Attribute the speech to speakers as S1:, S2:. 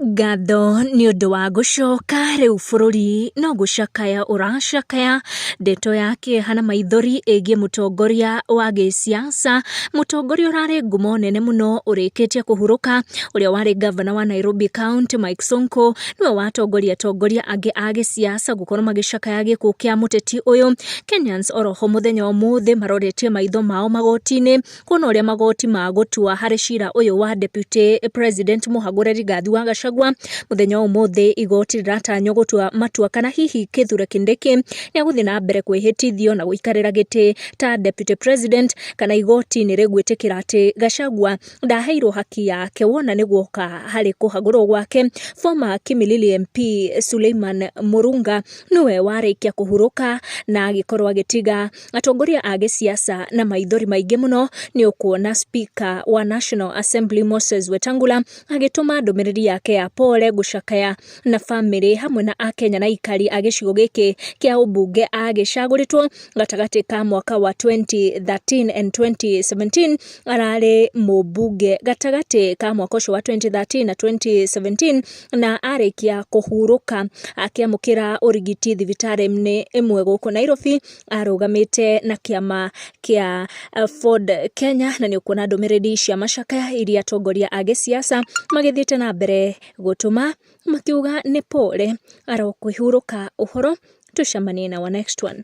S1: Ngatho nĩ ũndũ wa gũcoka, rĩu bũrũri no gũcakaya ũracakaya, ndeto ya kĩeha na maithori ĩgiĩ mũtongoria wa gĩsiasa, mũtongoria ũrarĩ ngumo nene mũno ũrĩkĩtie kũhurũka, ũrĩa warĩ ngavana wa Nairobi County Mike Sonko, nĩwe watongoria atongoria angĩ a gĩsiasa gũkorwo magĩcakaya gĩkuũ kĩa mũteti ũyũ, Kenyans oroho mũthenya wa ũmũthĩ maroretie maitho mao magoti-inĩ. Kuona ũrĩa magoti ma gũtua harĩ cira ũyũ wa deputy president Mũhagũre Rigathi wa Gachagua mũthenya wa ũmũthĩ igoti rĩratanywo gũtua matua kana hihi Kithure Kindiki nĩ egũthiĩ na mbere kwĩhĩtithio na gũikarĩra gĩtĩ ta deputy president kana igoti nĩ rĩgwĩtĩkĩra atĩ Gachagua ndaheirwo haki yake wona nĩ guoka harĩ kũhagũrwo gwake. Former Kimilili MP Suleiman Murunga nĩwe warĩkia kũhurũka na agĩkorwo agĩtiga Atongoria a gĩsiasa na maithori maingĩ mũno nĩ ũkuona speaker wa National Assembly Moses Wetangula agĩtũma ndũmĩrĩri yake ya pole gũcakaya na bamĩrĩ hamwe na Akenya na ikari a gĩcigo gĩkĩ kĩa ũmbunge agĩcagũrĩtwo gatagatĩ ka mwaka wa 2013 and 2017 ararĩ mũmbunge gatagatĩ ka mwaka ũcio wa 2013 na 2017 na arĩkia kũhurũka akĩamũkĩra ũrigiti thibitarĩ-inĩ ĩmwe gũkũ Nairobi arũgamĩte na kĩama kĩa Ford Kenya, na nĩ ũkuona ndũmĩrĩri cia macakaya iria atongoria a gĩsiasa magĩthiĩte na mbere gũtũma makiuga nĩ pole arokũihurũka ũhoro, tũcemanie na wa next one.